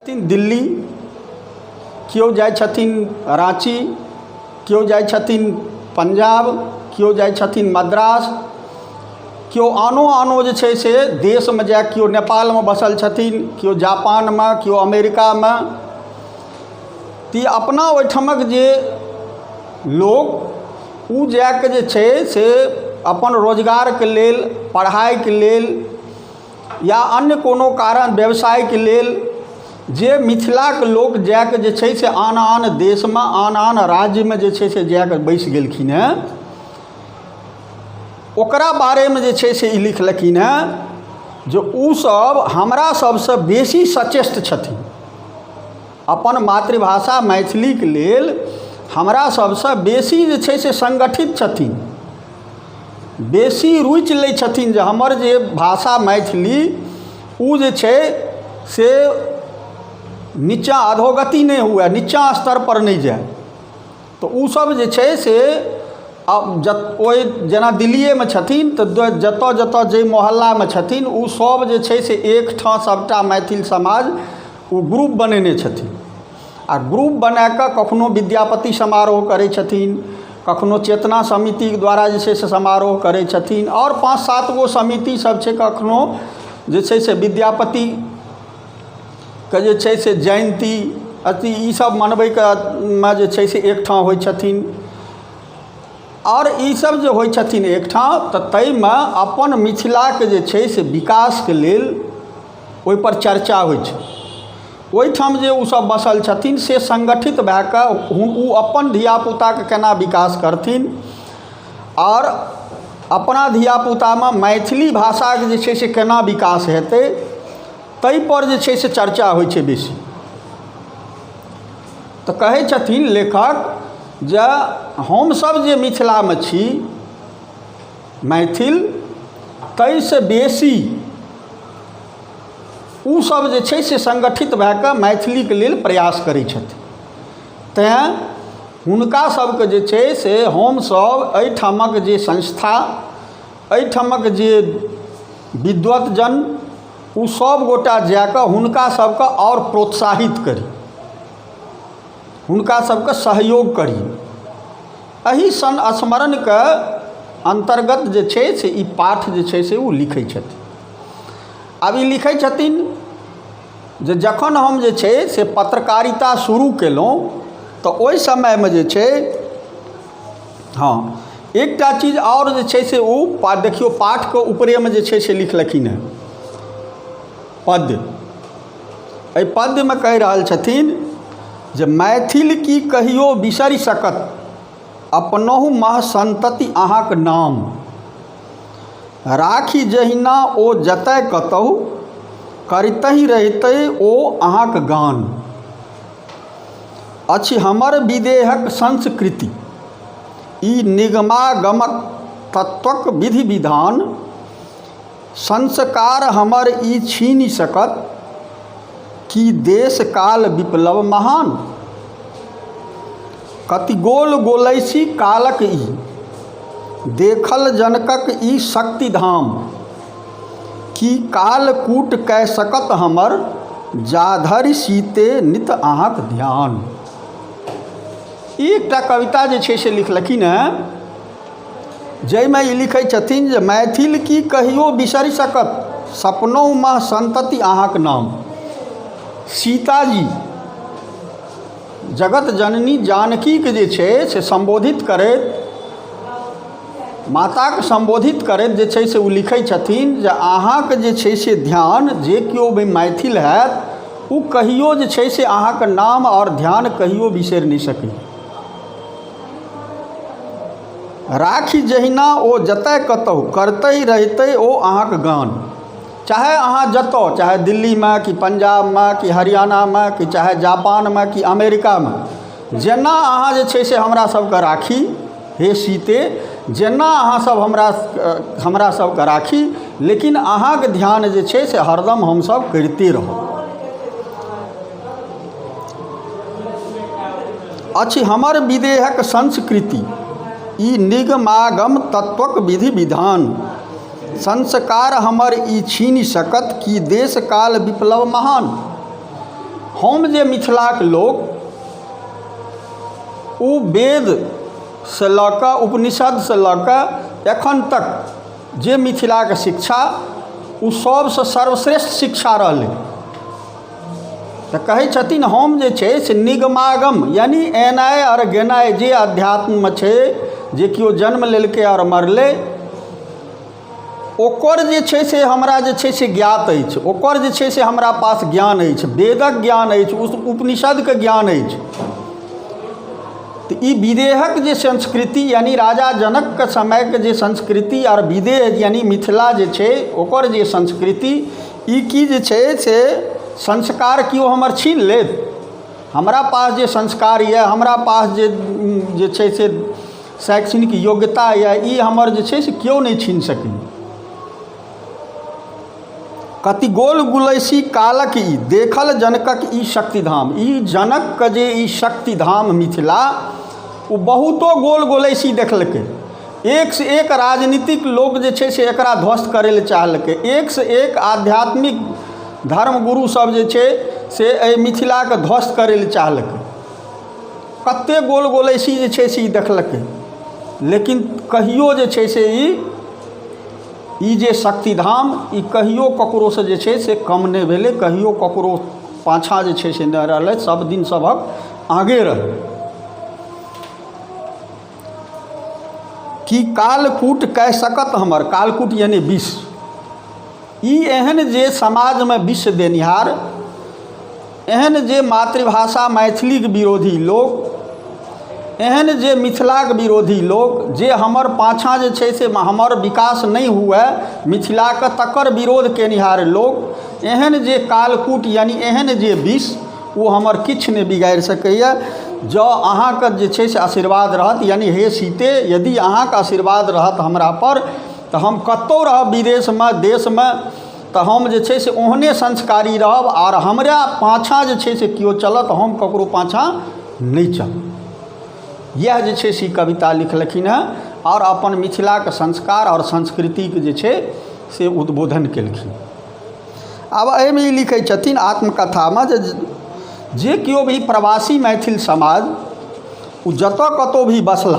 छथिन दिल्ली केओ जाइ छथिन राँची केओ जाइ छथिन पंजाब केओ जाइ छथिन मद्रास केओ आनो आनो जे छै से देशमे जाइ केओ नेपालमे बसल छथिन केओ जापानमे केओ अमेरिकामे तऽ ई अपना ओहिठामक जे लोक ओ जाए कऽ जे छै से अपन रोजगारके लेल पढ़ाइके लेल या अन्य कोनो कारण व्यवसायके लेल जे मिथिलाके लोक जाकऽ जे छै से आन आन देशमे आन आन राज्यमे जे छै से जाकऽ बसि गेलखिन हँ ओकरा बारेमे जे छै से ई लिखलखिन हँ जे ओसब हमरा सबसँ बेसी सचेष्ट छथिन अपन मातृभाषा मैथिलीक लेल हमरा सभसँ बेसी जे छै से संगठित छथिन बेसी रुचि लै छथिन जे हमर जे भाषा मैथिली ओ जे छै से नीचाँ अधोगति नहि हुए नीचाँ स्तर पर नहि जाय तऽ ओ सब जे छै से ओहि जेना दिल्लिएमे छथिन तऽ जतऽ जतऽ जाहि मोहल्लामे छथिन ओ सब जे छै से एकठाम सबटा मैथिल समाज ओ ग्रुप बनेने छथिन आओर ग्रुप बनाकऽ कखनो विद्यापति समारोह करै छथिन कखनो चेतना समितिके द्वारा जे छै से समारोह करै छथिन आओर पाँच सातगो समितिसब छै कखनो जे छै से विद्यापति के जे छै से जयन्ती अथी ई सब मनबैके मे जे छै से एकठाम होइ छथिन आओर ई सब जे होइ छथिन एकठाम तऽ ताहिमे अपन मिथिलाके जे छै से विकासके लेल ओहिपर चर्चा होइ छै ओहिठाम जे ओ सब बसल छथिन से सङ्गठित भए कऽ ओ अपन धियापुताके केना विकास करथिन आओर अपना धियापुतामे मैथिली भाषाके जे छै से केना विकास हेतै ताहिपर जे छै से चर्चा होइ छै बेसी तऽ कहै छथिन लेखक जे हमसभ जे मिथिलामे छी मैथिल ताहिसँ बेसी ओसभ जे छै से सङ्गठित भए कऽ मैथिलीके लेल प्रयास करै छथि तैँ हुनका सभके जे छै से हमसभ एहिठामक जे संस्था एहिठामक जे विद्वत जन ओ सभ गोटा जा कऽ हुनका सभके आओर प्रोत्साहित करी हुनका सभके सहयोग करी एहि संस्मरणके अन्तर्गत जे छै से ई पाठ जे छै से ओ लिखै छथिन आब ई लिखै छथिन जे जखन हम जे छै से पत्रकारिता शुरू केलहुँ तऽ ओहि समयमे जे छै हँ एकटा चीज आओर जे छै से ओ देखियौ पाठके ऊपरेमे जे छै से लिखलखिन हेँ पद्य एहि पद्यमे कहि रहल छथिन जे मैथिल की कहियो बिसरि सकत अपनहु महसन्तति अहाँक नाम राखि जहिना ओ जतय कतहु करितहि रहितै ओ अहाँक गान अछि हमर विदेहक संस्कृति ई निगमागमक तत्वक विधि विधान संस्कार हमर ई छीनि सकत की देश काल विप्लव महान कति गोल गोलैसी कालक ई देखल जनकक ई शक्ति धाम की काल कूट कए सकत हमर जाधरि सीते नित अहाँक ध्यान ई एकटा कविता जे छै से लिखलखिन हेँ जाहिमे ई लिखै छथिन जे मैथिल की कहियो बिसरि सकत सपनहुमे सन्तति अहाँक नाम सीताजी जगत जननी जानकीके जे छै से सम्बोधित करैत माताके सम्बोधित करैत जे छै से ओ लिखै छथिन जे अहाँके जे छै से धिआन जे केओ भी मैथिल हैत ओ कहिओ जे छै से अहाँके नाम आओर धिआन कहिओ बिसरि नहि सकैए राखी जहिना ओ जतए कतहु करतै रहितै ओ अहाँके गान चाहे अहाँ जतऽ चाहे दिल्लीमे कि पञ्जाबमे कि हरियाणामे कि चाहे जापानमे कि अमेरिकामे जेना अहाँ जे छै से हमरा सबके राखी हे सीते जेना अहाँ सब हमरा हमरा सबके राखी लेकिन अहाँके ध्यान जे छै से हरदम हमसब करिते रहब अछि हमर विदेहक संस्कृति ई निगमागम तत्वक विधि विधान संस्कार हमर ई छीनि सकत की देश काल विप्लव महान हम जे मिथिलाक लोक ओ वेदसँ लऽ कऽ उपनिषदसँ लऽ कऽ एखन तक जे मिथिलाक शिक्षा ओ सभसँ सर्वश्रेष्ठ शिक्षा रहलै तऽ कहै छथिन हम जे छै से निगमागम यानि एनाइ आओर गेनाइ जे अध्यात्ममे छै जे केओ जन्म लेलकै आओर मरलै ओकर जे छै से हमरा जे छै से ज्ञात अछि ओकर जे छै से हमरा पास ज्ञान अछि वेदक ज्ञान अछि उपनिषदके ज्ञान अछि तऽ ई विदेहक जे संस्कृति यानि राजा जनकके समयके जे संस्कृति आओर विदेह यानि मिथिला जे छै ओकर जे संस्कृति ई की जे छै से संस्कार केओ हमर छीन लेत हमरा पास जे संस्कार यए हमरा पास जे जे छै से शैक्षणिक योग्यता यए ई हमर जे छै से केओ नहि छीन सकैए कति गोल गुलैसी कालक ई देखल जनकक ई शक्तिधाम ई जनकके जे ई शक्तिधाम मिथिला ओ बहुतो गोल गोलैसी देखलकै एकसँ एक राजनीतिक लोक जे छै से एकरा ध्वस्त करै लए चाहलकै एकसँ एक आध्यात्मिक धर्मगुरुसभ जे छै से एहि मिथिलाके ध्वस्त करै लए चाहलकै कतेक गोल गोल ऐसी जे छै से ई देखलकै लेकिन कहियो जे छै से ई ई जे शक्तिधाम ई कहियो ककरोसँ जे छै से कम नहि भेलै कहियो ककरो पाछाँ जे छै से नहि रहलै सब दिन सबहक आगे रहलै कि कालकूट कहि सकत हमर कालकूट यानी विष ई एहन जे समाजमे विष देनिहार एहन जे मातृभाषा मैथिलीक विरोधी लोक एहन जे मिथिलाक विरोधी लोक जे हमर पाछाँ जे छै से हमर विकास नहि हुए मिथिलाक तकर विरोध केनिहार लोक एहन जे कालकूट यानि एहन जे विष ओ हमर किछु नहि बिगाड़ि सकैए जँ अहाँके जे छै से आशीर्वाद रहत यानि हे सीते यदि अहाँके आशीर्वाद रहत हमरापर तऽ हम कतहु रहब विदेशमे देशमे तऽ हम जे छै से ओहने संस्कारी रहब आओर हमरा पाछाँ जे छै से केओ चलत तऽ हम ककरो पाछाँ नहि चलब इएह जे छै से ई कविता लिखलखिन हँ आओर अपन मिथिलाके संस्कार आओर संस्कृतिके जे छै से उद्बोधन केलखिन आब एहिमे ई लिखै छथिन आत्मकथामे जे जे केओ भी प्रवासी मैथिल समाज ओ जतऽ कतहु भी बसला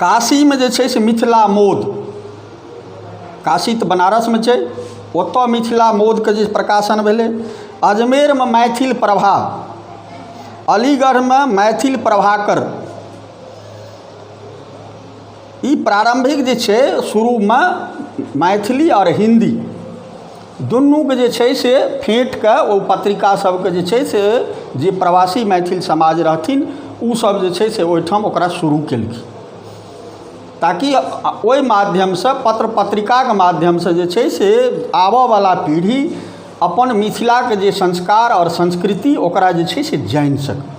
काशीमे जे छै से मिथिला मौध काशी तऽ बनारसमे छै ओतऽ मिथिला मौधके जे प्रकाशन भेलै अजमेरमे मैथिल प्रभा अलीगढ़मे मैथिल प्रभाकर ई प्रारम्भिक जे छै शुरूमे मैथिली आओर हिन्दी दुनूके जे छै से फेँटिके ओ पत्रिका सबके जे छै से जे प्रवासी मैथिल समाज रहथिन ओ सब जे छै से ओहिठाम ओकरा शुरू केलखिन ताकि ओहि माध्यमसँ पत्र पत्रिकाके माध्यमसँ जे छै से आबऽ बला पीढ़ी अपन मिथिलाके जे संस्कार आओर संस्कृति ओकरा जे छै से जानि सकै